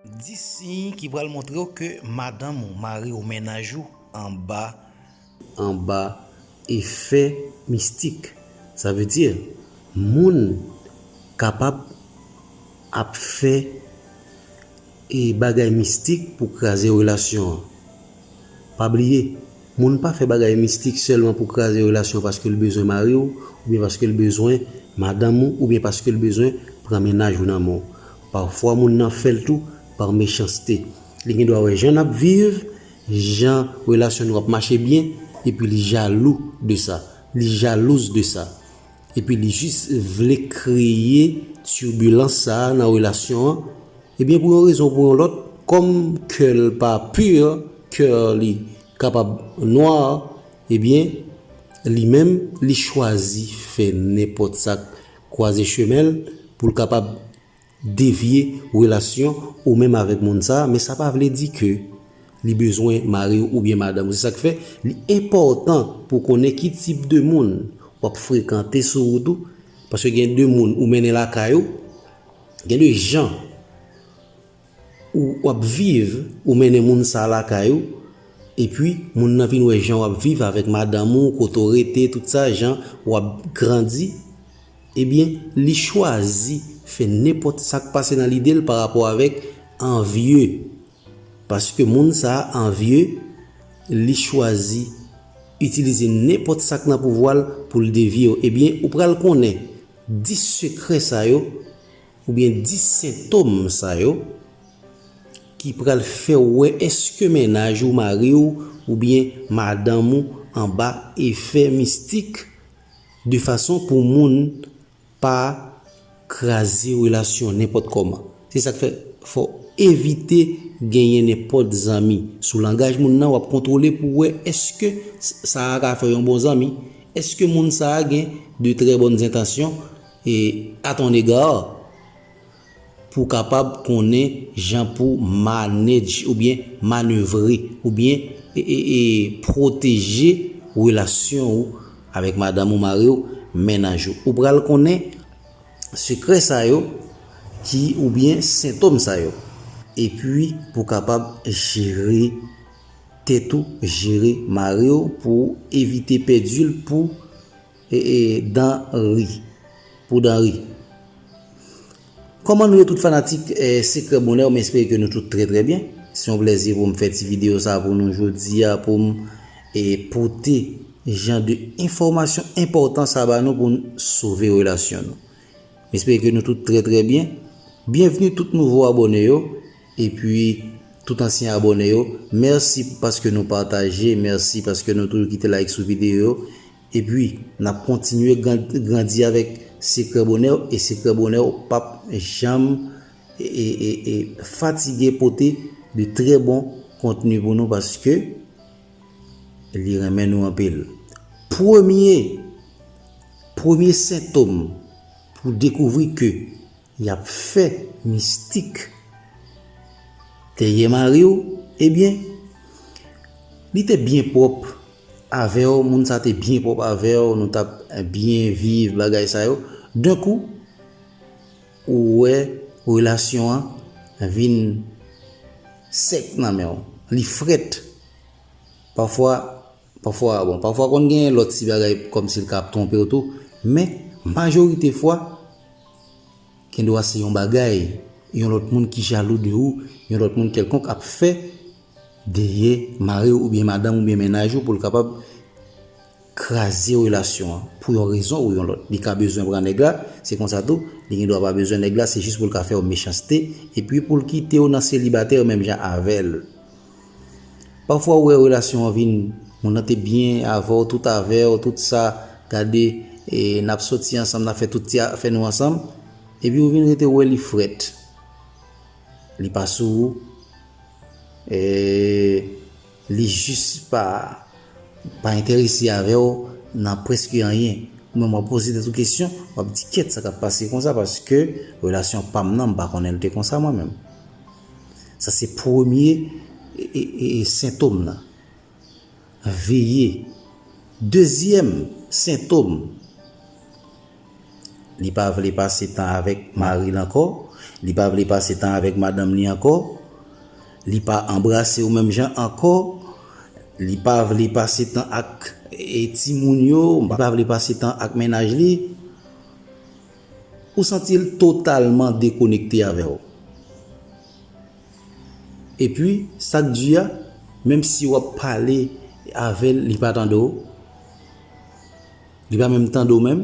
10 siy ki pral montre w ke madanm ou, mari ou, mennaj ou anba. Anba efè mistik. Sa vle di, moun kapab ap fè bagay mistik pou kraze relasyon an. Pa bliye, moun pa fè bagay mistik sèlman pou kraze relasyon paske l bezwen mari w oubyen paske l bezwen madanm ou oubyen paske l bezwen pran mennaj ou nan men w. Pafwa moun nan fè l tou par mechanste. Li gen dwa wè jan n ap viv, jan relasyon nou ap mache byen epi li jalou de sa, li jalouse de sa. epi li jis vle kreye turbulence sa nan relasyon an, ebyen pou yon rezon ou pou yon lòt, kòm kè l pa pur, coeur li kapab noir, ebyen li menm li chwazi fè nenpòt sa k kwaze chemen l pou l kapab devye relasyon ou menm avèk moun sa a men sa pa vle di ke li bezwen mari w oubyen madanm ou se sa k fè li enpòtan pou w konnen ki tip de moun w ap frekante sou wout ou paske gen de moun ou mennen lakay ou gen de jan ou w ap viv ou mennen moun sa a lakay ou epi moun nan vin wè jan w ap viv avèk madanm ou kote w rete tout sa jan w ap grandi. Ebyen li chwazi fè nenpòt sak pase nan lidel pa rapò avèk anvye paske moun sa anvye li chwazi itilize nenpòt sak nan pouvwal poul devyew ebyen ou pral konnen 10 sekrè sa yo oubyen 10 sentom sa yo ki pral fèw wè eske mennaj ou mariw oubyen madanm ou anba efè mistik De fason pou moun pa kraze relasyon nenpòt kòman. Se sa k fè fò w evite genyen nenpòt zanmi. Sou langaj moun nan w ap kontwole pou w wè èske sa a ka fè yon bon zanmi. Èske moun sa a gen de trè bòn zentansyon a ton ega? pou w kapab konnen jan pou w manedj oubyen manevre oubyen pwoteje relasyon ou avèk madanm ou, mari ou, mennaj ou. Ou pral konnen sekrè sa yo ki oubyen sentom sa yo. Epi pou w kapab jere tèt ou, jere mari ou pou evite pèdi l pou. E e dan ri pou dan ri. Koman nou ye tout fanatik sekrè bonèw m espere ke nou tout trè trè byen se yon plèzi pou m fè ti video sa pou nou jodi a pou m e pote jan de enfòmasyon enpòtan sa ba nou pou n sove relasyon nou m espere ke nou tout trè trè byen byenvni tout nouvo abòne yo e pi tout ansyen abòne yo mèsi paske nou pataje mèsi paske nou toujou kite like sou video yo Epi, n ap kontinye grandi avèk sekrè bonè w e sekrè bonè w p ap janm fatige pote de trè bon kontni pou nou paske li renmen nou anpil. Premye, premye sentom pou dekouvri ke Yap fè mistik dèyè mariw ebyen Li te byen pwòp avèw moun sa te byen pwòp avèw nou tap byen viv bagay sa yo d'un kou ou wè relasyon an vin sèk nan menw li frèt pafwa Pafwa, bon, pafwa konn gen lòt ti bagay kòmsi l ka ap twonpe w tou, men, majorite fwa, gendwa se yon bagay, yon lòt moun ki jalou de ou, yon lòt moun kèlkonk ap fè dèyè mari w oubyen madanm oubyen mennaj ou pou l kapab kraze relasyon an pou yon rezon ou yon lòt. Li ka bezwen pran nèg la, se konsa tou, li gendwa pa bezwen nèg la, se jis pou l ka fè w mechanste epi pou l kite w nan selibatè menm jan avè l. Pafwa ou wè relasyon an vin moun nan te byen avèw tout avèw tout sa gade e nap soti ansanm nap fè tout ti afè nou ansanm epi ou vin rete wè li frèt li pa sou ou e li jis pa pa enterese avèw nan preske anyen ou menm wap poze tèt ou kesyon wap di kèt sa kap pase konsa paske relasyon pam nan m pa konnen l te konsa mwen menm. Sa se premye sentom nan. Veye. Dezyèm sentom, li pa vle pase tan avèk mari l ankò, li pa vle pase tan avèk madanm li ankò, li pa anbrase w menm jan ankò, li pa vle pase tan ak timoun yo, li pa vle pase tan ak mennaj li. Ou santi l totalman dekonekte avè w. Epi, sa k di a, menm si w ap pale avè l, li pa tande w. Li pa menm tande w menm.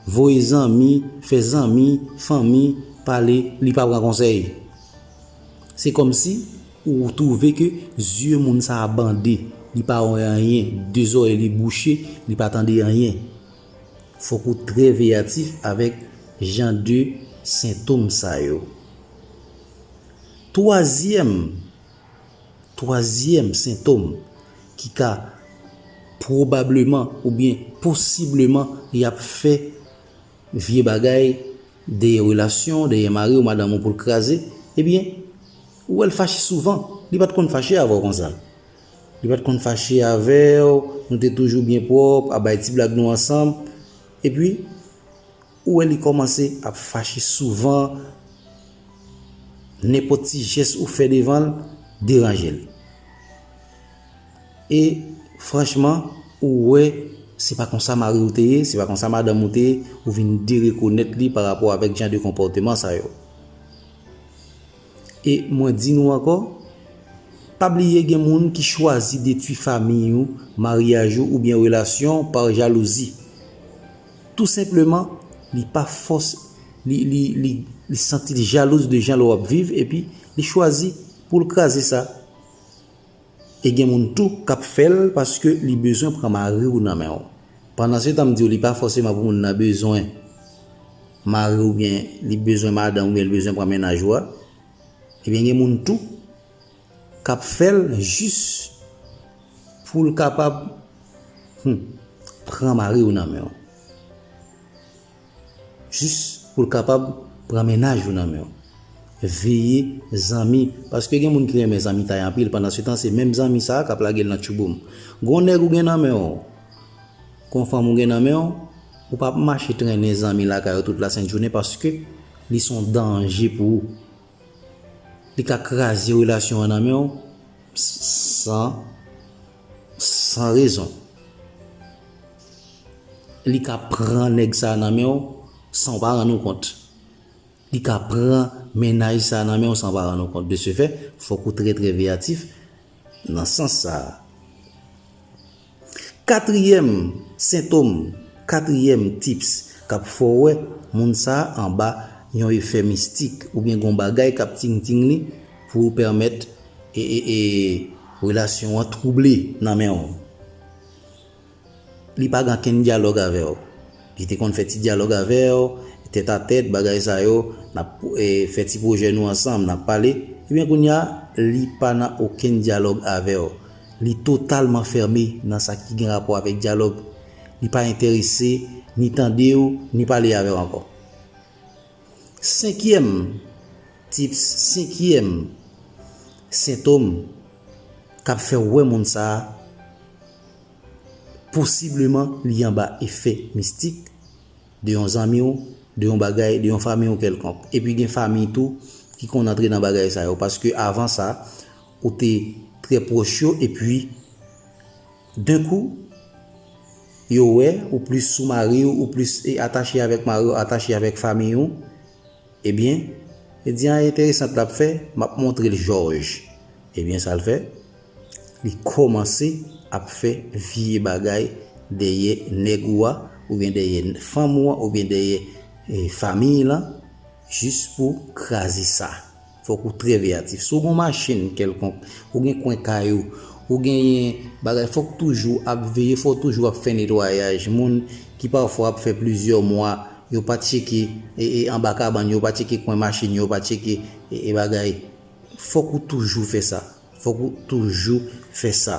Voye zanmi, fè zanmi, fanmi pale, li pa pran konsèy. Se kòmsi ou twouve ke zye moun sa a bande. Li pa wè anyen. De zòrèy li bouche, li pa tande anyen. Fòk ou trè veyatif avèk jan de sentom sa yo. Twazyèm Twazyèm sentom ki ka pwobableman oubyen posibleman y ap fè vye bagay dèyè relasyon w, dèyè mari w, madanm w pou l kraze, ebyen ou wè l fache souvan, li pa t konn fache avè w konsa. Li pat konn fache avèw, nou te toujou byen pwòp, ap bay ti blag nou ansanm. Epi, ou wè li kòmanse ap fache souvan, nenpòt ti jès ou fè devanl deranjel. E, franchman, ou wè se pa konsa mariw te ye, se pa konsa madanm ou te ye, ou vin derekonèt li pa rapò avèk jan de konpòteman sa yo. E mwen di nou ankò, pa bliye gen moun ki chwazi detwi famiy ou, maryaj ou oubyen relasyon par jalouzi. Tou senpleman li pa fòs li li li li santi l jalouz de jan l wap viv epi li chwazi pou l kraze sa. E gen moun tou kap fèl paske li bezwen pran mariw nan menw. Pandan se tan m diw li pa fòseman pou moun nan bezwen mariw oubyen li bezwen madanm oubyen li bezwen pran mennaj ou a. Ebyen gen moun tou kap fèl jis poul kapab humm pran mariw nan menw. Jis pou l kapab pran mennaj ou nan men w. Veye zanmi, paske gen moun ki renmen zanmitay anpil pandansetan se menm zanmi sa a k ap lage l nan tchouboum. Gon nèg ou gen nan men w, gon fanm ou gen nan men w, ou pa p mache trennen zanmi lakay ou tout lasent jounen paske li son danje pou ou. Li ka kraze relasyon an nan men w san. San rezon. Li ka pran nèg sa nan men ou san ou pa rann ou kont. Li ka pran mennaj sa nan men ou san ou pa rann ou kont. De se fè, fòk ou trè trè veyatif nan sans sa a. Katriyèm sentom, katriyèm tips k ap fè w wè moun sa anba yon efè mistik oubyen gen yon bagay k ap ting ting li pou pèmèt. E e e relasyon an twouble nan men w. Li pa gen ankenn dyalòg avè w. Li te konn fè ti dyalòg avè w, tèt a tèt, bagay sa yo, n ap fè ti pwojè nou ansanm, n ap pale. Ebyen kounye a, li pa nan okenn dyalòg avè w. Li totalman fèmen nan sa ki gen rapò avèk dyalòg. Li pa enterese ni tande w, ni pale avè w ankò. Senkyèm tips, senkyèm sentom k ap fè w wè moun sa a posibleman li anba efè mistik de yon zanmi w, de yon bagay, de yon fanmi w kèlkonk. Epi gen fanmi tou ki konn antre nan bagay sa yo paske avan sa ou te trè pwòch yo epi. D'un coup, yo wè ou plis sou mari w, ou plis atache avèk mari w, atache avèk famiy ou, ebyen, li di an enteresant lap fè, map montre l jòj. Ebyen sa l fè, li kòmanse ap fè vye bagay dèyè nèg ou a, oubyen dèyè fanm ou an, oubyen dèyè famiy lan, Jis pou kraze sa, fòk ou trè veyatif. Si w gen machin kèlkonk, ou gen kwen kay ou, ou genyen bagay, fòk toujou ap veye, fòk toujou ap fè netwayaj. Moun ki pafwa ap fè plizyè mwa, yo pa tcheke anba kabann yo, yo pa tcheke kwen machin yo, yo pa tcheke bagay. Fòk ou toujou fè sa. Fòk ou toujou fè sa.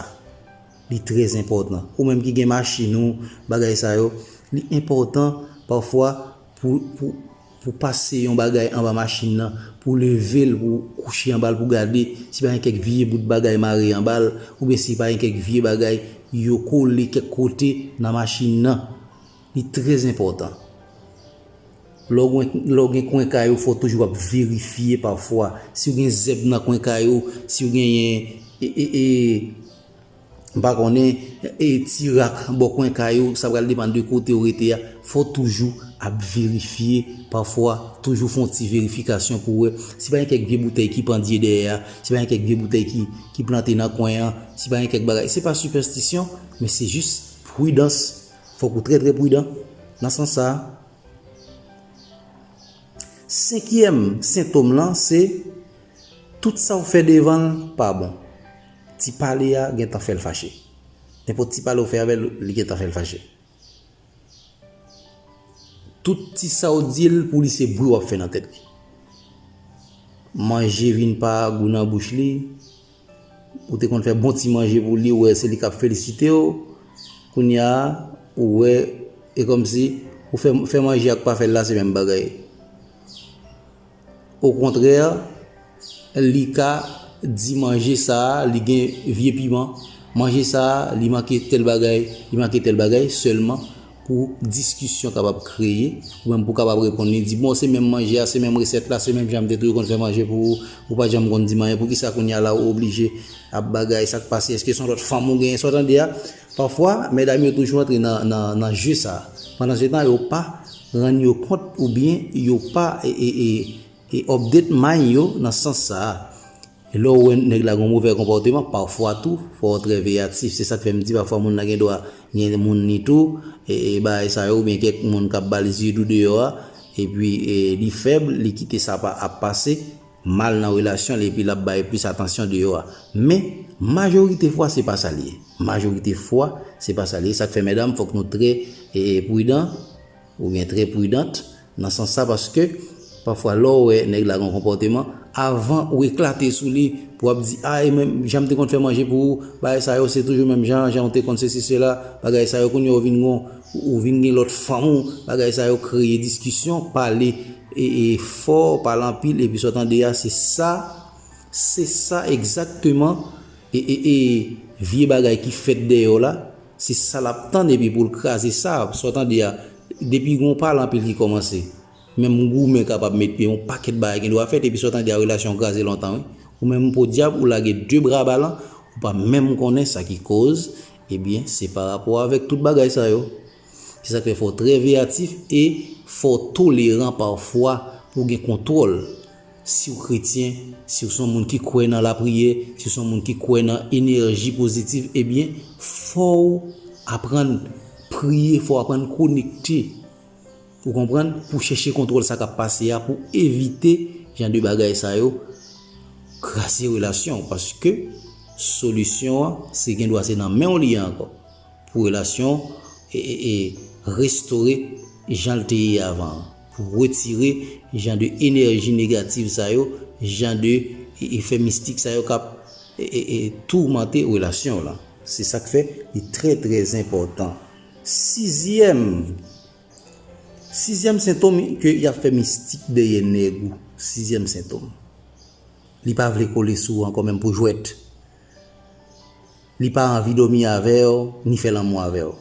Li trè enpòtan. Ou menm ki gen machin ou, bagay sa yo, li enpòtan pafwa pou. Pou pase yon bagay anba machin nan, pou leve l, pou kouche anba l pou gade si pa gen kèk vye bout bagay mare anba l, oubyen si pa gen kèk vye bagay yo kole kèk kote nan machin nan. Li trè enpòtan. Lè w gen kwen kay ou fò w toujou ap verifye pafwa. Si w gen zèb nan kwen kay ou, si w genyen. M pa konnen e ti rak bò kwen kay ou, sa pral depann de kote ou rete a, fò w toujou ap verifye, pafwa toujou fè yon ti verifikasyon pou wè si pa gen kèk vye boutèy ki pandye dèyè a, si pa gen kèk vye boutèy ki ki plante nan kwen an, si pa gen kèk bagay. Se pa sipèstisyon, men se jis pridans. Fòk ou trè trè pridan nan sans sa a. Senkyèm sentòm lan se. Tout sa ou fè devan l pa bon. Ti pale a gentan fè l fache. Nenpòt ti pale ou fè avè l, li gentan fè l fache. Tout ti sa ou di l pou li se bri w ap fè nan tèt li. Manje vin pa gou nan bouch li. Ou te konn fè bon ti manje pou li, ou wè se li k ap felisite w. Kounye a, ou wè e kòmsi ou fè manje ak pa fè l la se menm bagay. Okontrè, li ka di manje sa a li gen vye piman, manje sa a li manke tèl bagay, li manke tèl bagay, sèlman pou diskisyon kapab kreye, ou menm pou w kapab reponn li, di bon se menm manje a, se menm resèt la, se menm jan m te toujou konn fè manje pou ou, ou pa janm konn di m anyen, poukisa kounya la ou oblije ap bagay, sa k pase, èske se yon lòt fanm ou genyen, sa w tande a. Pafwa, medam yo toujou antre nan je sa. Pandansetan yo pa rann yo kont oubyen yo pa update mind yo nan sans sa. Lè w wè nèg la gen yon movè konpòteman, pafwa tou fò w trè veyatif. Se sa k fè m di pafwa moun nan gen dwa gen moun li tou, bagay sa yo oubyen kèk moun k ap ba l zye dou deyò a epi li fèb, li kite sa ap pase. mal nan relasyon li epi l ap bay plis atansyon deyò a. Men, majorite fwa se pa sa li ye. Majorite fwa, se pa sa li ye. Sa k fè medam fòk nou trè pridan oubyen trè pridant nan sans sa paske pafwa lè w wè nèg la gen yon konpòteman, avan ou eklate sou li pou w ap di a e menm jan m te konn fè manje pou ou, bagay sa yo se toujou menm jan an, jan ou te konn sesi sela, bagay sa yo kounye a ou vin gen yon. Ou vin gen lòt fanm ou, bagay sa yo kreye diskisyon, pale fò, pale anpil epi sa w tande a se sa, se sa egzakteman vye bagay ki fèt deyò la, se sa l ap tann epi pou l kraze sa, sa w tande a, depi gen yon pale anpil ki kòmanse, menm goumen kapab met pye, yon pakèt bagay gen dwa fèt epi sa w tande a relasyon an kraze lontan wi. Ou menm podyab ou lage de bra balan, ou pa menm konnen sa ki koz. Ebyen, se pa rapò avèk tout bagay sa yo. Se sa k fè fò w trè veyatif e fò w toleran pafwa pou w gen kontwòl. Si w kretyen, si w se yon moun ki kwè nan lapriyè, si w se yon moun ki kwè nan enèji pozitiv, ebyen, fò w aprann priye, fò w aprann konekte. Ou konprann? Pou chèche kontwòl sa k ap pase a, pou evite jan de bagay sa yo kraze relasyon w. Paske solisyon an, se gen dwa se nan men w li ye ankò. Pou relasyon w restore jan l te ye avan an. Pou w retire jan de enèji negativ sa yo, jan de efè mistik sa yo k ap toumante relasyon w lan. Se sa k fè li trè trè enpòtan. Sizyèm. Sizyèm sentom ke yap fè mistik dèyè nèg ou sizyèm sentom li pa vle kole sou ou ankò menm pou jwèt li pa anvi dòmi avèw ni fè lanmou avèw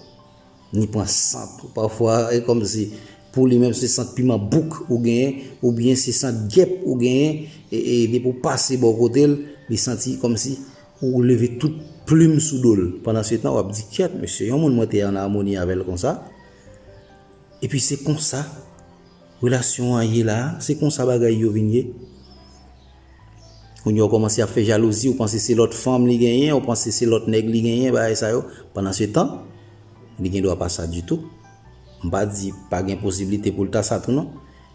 ni pran sant ou pafwa e kòmsi pou li menm se sant piman bouk ou genyen oubyen se sant gèp ou genyen e depi ou pase bò kotel li santi kòmsi ou leve tout plim sou dol pandan se tan wap di kyèt mesye yon moun mwen te an amoni avèl konsa. Epi se konsa relasyon an ye la a, se konsa bagay yo vin ye. Kounye a ou kòmanse ap fè jalouzi, ou panse se lòt fanm li genyen, ou panse se lòt nèg li genyen, bagay sa yo. Pandansetan, li gen dwa pa sa ditou. M pa di pa gen posiblite pou l ta sa tou non.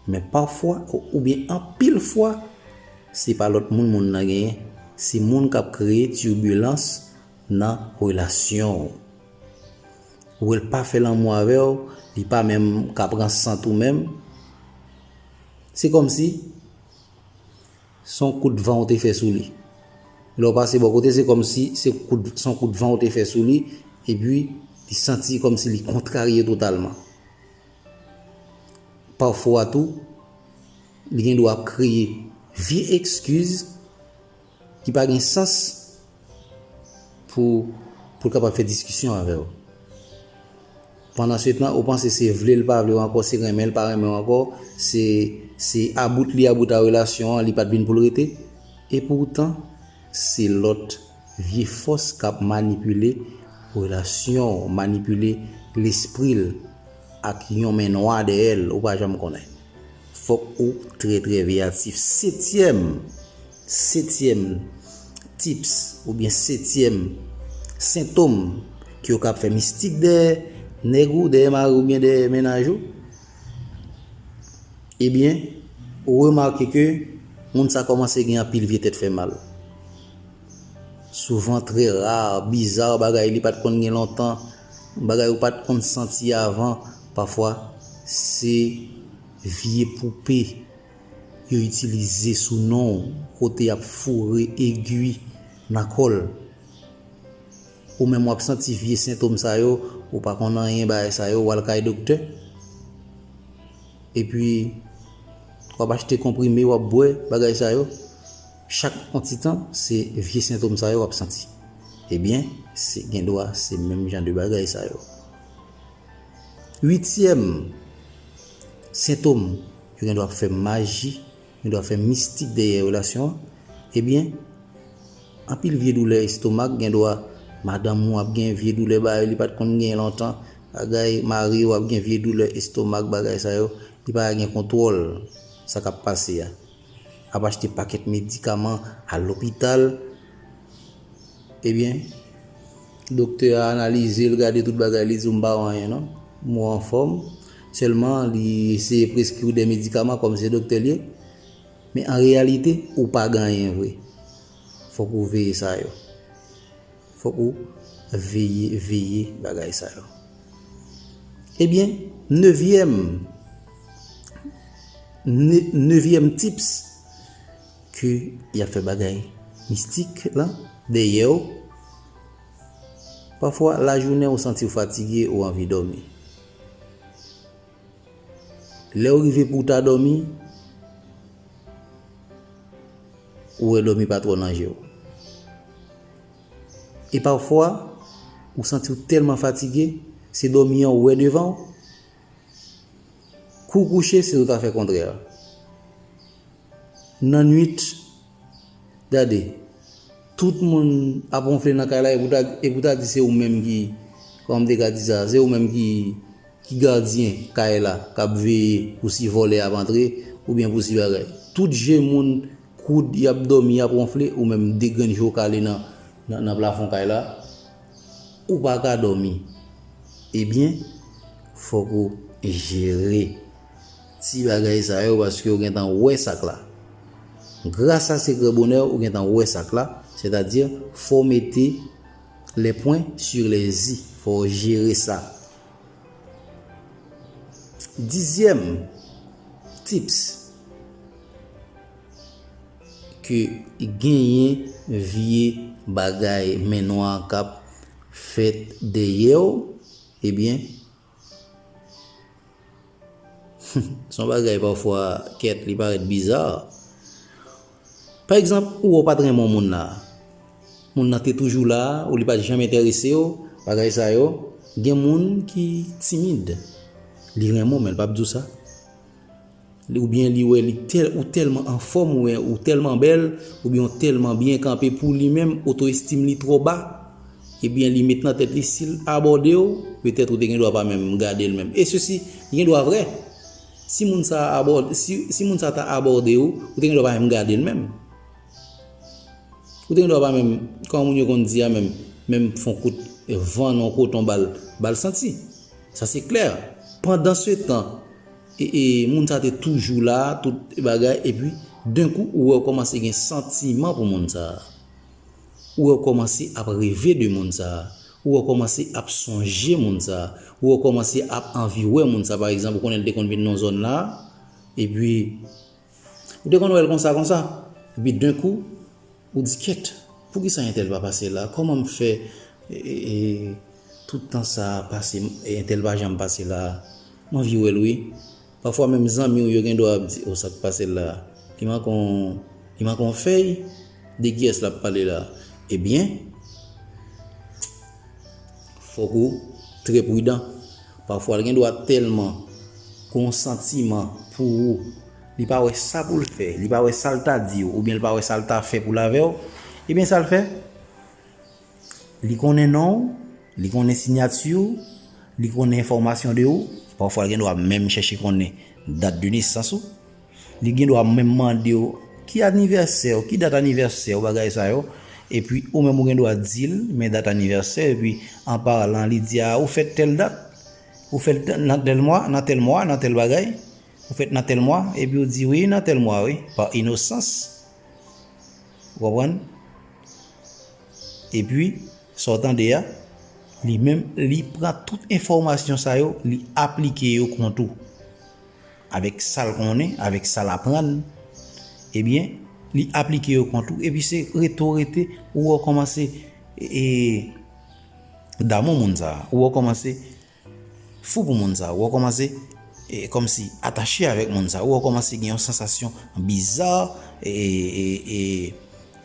Men pafwa oubyen anpil fwa, se pa lòt moun moun nan genyen. Se moun k ap kreye tirbulans nan relasyon ou. Ou wèl pa fè lanmou avèw li pa menm ka pran sant ou menm se kòmsi son kout van ou te fè sou li lè ou pase bò kote se kòmsi se kout son kout van ou te fè sou li epi li santi kòmsi li kontrarye totalman pafwa tou li gen dwa ap kreye vye ekskiz Ki pa gen sans pou pou l kapab fè diskisyon avè w. Pandanswetan ou panse se vle l pa vle w ankò, se renmen l pa renmen w ankò, se se about li about a relasyon an, li pa t vin pou l rete. Epoutan, se lòt vye fòs k ap manipile relasyon w, manipile lespri l ak yon men nwa dèyè l, ou pa janm konnen. Fòk ou trè trè veyatif. Setyèm. Setyèm tips oubyen setyèm sentom ki yo kap fè mistik dèyè nèg ou, dèyè mari ou oubyen dèyè mennaj ou, ebyen ou remake ke moun sa kòmanse gen anpil vye tèt fè mal. Souvan trè ra, biza, bagay li pat konn gen lontan, bagay ou pat konn santi avan, pafwa se vye poupe. Yo itilize sou non w kote y ap foure egui nan kò l. Ou menm w ap santi vye sentom sa yo, ou pa konn anyen bagay sa yo, w al kay doktè. Epi, w ap achte konprime w ap bwè, bagay sa yo. Chak yon ti tan, se vye sentom sa yo w ap santi. Ebyen, se gen dwa se menm jan de bagay sa yo. Uityèm. Sentom, Yo gendwa ap fè maji, gendwa fè mistik dèyè relasyon an. Ebyen, anpil vye doulè estomak, gendwa madanm ou ap gen vye doulè ba yo li pat konn genyen lontan, bagay mari ou ap gen vye doulè estomak bagay sa yo, li pa gen kontwòl sa kap pase a. Ap achte pakèt medikaman, al lopital. Ebyen Doktè a analize l gade tout bagay li di w m pa wè anyen non m wè w anfòm sèlman li eseye preskri w de medikaman kòm se doktè l ye men an reyalite ou pa gen anyen vre fòk ou veye sa yo fòk ou veye veye bagay sa yo ebyen nevyèm nevyèm tips Ke yap fè bagay mistik lan dèyèw Pafwa lajounen ou santiw fatige ou anvi dòmi Lèw rive pouw ta dòmi ou wè dòmi pa twò nan jew E pafwa ou santiw tèlman fatige se dòmi an ou wè devanw Kouw kouche siw ta fè kontrè a. Nan nwit, gade, tout moun ap wonfle nan kay la e pou ta di se ou menm ki, kòman m te ka di sa, se ou menm ki gadyen kay la k ap veye pou si vòlè ap antre oubyen pou si bagay. Tout je moun koud, y ap dòmi, y ap wonfle, ou menm de grenn je w kale nan plafon kay la, ou pa ka dòmi. Ebyen, fòk ou jere. Ti bagay sa yo paske ou gentan wè sak la. Gras a sekrè bonè ou gentan wè sak la, sètadi fò w mete les points sur les i, fò w jere sa. Dizyèm tips ke genyen vye bagay men nwa kap fèt dèyè w, ebyen. Humm son bagay pafwa kèt li parèt bizarre. Pa egzanp ou wè ou pat renmen yon moun la, moun nan te toujou la ou li pat janm enteresew, bagay sa yo, gen moun ki timid li renmen w men li pap diw sa. Ou byen li wè li tèl ou tèlman anfòm ou byen ou tèlman bèl ou byen ou tèlman byen kanpe pou li menm oto estim li twò ba e byen li met nan tèt li sil abòde w petèt ou te gen dwa pa menm gade l menm e sesi li gen dwa vrè si moun sa abòde si moun sa ta abòde w ou te gen dwa pa menm gade l menm ou te gen dwa pa menm kòman moun yo konn di a menm menm fon kout van nan w koton ba l ba l santi sa se klè pandan se tan E moun sa te toujou la, tout bagay, epi d'un coup ou wè ou kòmanse gen santiman pou moun sa. Ou wè ou kòmanse ap reve de moun sa. Ou wè ou kòmanse ap sonje moun sa. Ou wè ou kòmanse ap anvi wè moun sa. Pa egzanp, ou konnen li te konn vin nan zòn la, epi ou te konn wè l konsa konsa. Epi d'un coup. Ou di kèt, poukisa entèl pa pase la, kòman m fè tout tan sa a pase entèl pa janm pase la a. M anvi wè l wi. Pafwa menm zanmi w yo gen dwa ap di o sa k pase l la a. Li manke w, li manke w fèy? De kiyès l ap pale la a? Ebyen, fòk ou trè pridan. Pafwa l gen dwa tèlman gen yon santiman pou ou. Li pa wè sa pou l fè, li pa wè sa l ta di w oubyen l pa wè sa l ta fè pou l avè w, ebyen sa l fè? Li konnen non w, li konnen sinyati w, li konnen enfòmasyon de ou, pafwa l gen dwa menm chèche konnen dat de nesans ou, li gen dwa menm mande w ki anivèsè w, ki dat anivèsè w, bagay sa yo, epi ou menm ou gen dwa di l men dat anivèsè, epi an palan li di a ou fèt tèl dat, ou fèt nan tèl mwa, nan tèl mwa, nan tèl bagay. Ou fèt nan tèl mwa, epi ou di wi nan tèl mwa wi, pa inosans, ou konprann? Epi, sa w tande a, li menm, li pran tout enfòmasyon sa yo, li aplike yo kont ou. Avèk sa l konnen, avèk sa l aprann, ebyen, li aplike yo kont ou, epi se rete w rete, ou wè w kòmanse damou moun sa a, ou wè w kòmanse. Fou pou moun sa, wè w kòmanse kòmsi atache avèk moun sa, wè w kòmanse gen yon sansasyon biza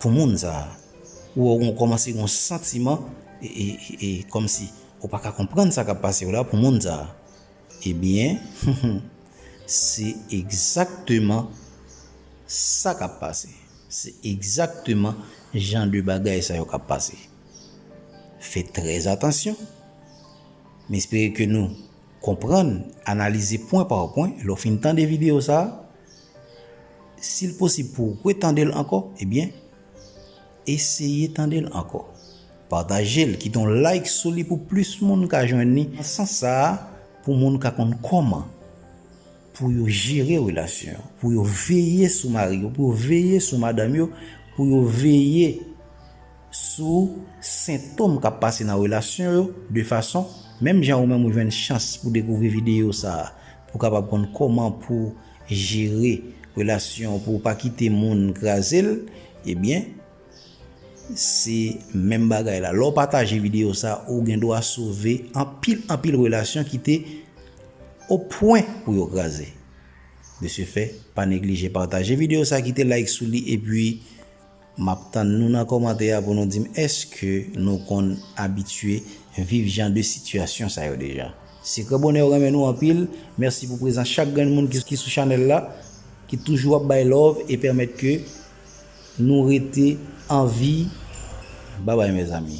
pou moun sa, wè w kòmanse gen yon santiman kòmsi ou pa ka konprann sa k ap pase w la pou moun sa. Ebyen, se egzakteman sa k ap pase, se egzakteman jan de bagay sa yo k ap pase. Fè trèzatansyon. M espere ke nou konprann, analize pwen pa pwen. Lè w fin tande videyo sa a, si l posib pou w retande l ankò, ebyen, eseye tande l ankò. Pataje l, kite yon like sou li pou plis moun ka jwenn li. Nan sans sa a, pou moun ka konn kòman pou yo jere relasyon yo, pou yo veye sou mari yo, pou yo veye sou madanm yo, pou yo veye. sou sentom kap pase nan relasyon yo de fason menm jan ou menm ou jwenn chans pou dekouvri videyo sa pou kapab konn koman pou jere relasyon ou pouw pa kite moun krazel ebyen se menm bagay la lèw pataje videyo sa ou gen dwa sove anpil anpil relasyon ki te o pwen pou yo kraze de se fè pa neglije pataje videyo sa kite like sou li epi. Map tann nou nan kòmantè a pou nou dim eske nou konn abitye viv jan de sitiyasyon sa yo deja. Sekrè bonè yo renmen nou anpil, mèsi pou prezans chak grenn moun ki sou chanèl la, ki toujou ap bay love e pèmèt ke nou rete anvi, babay mezanmi.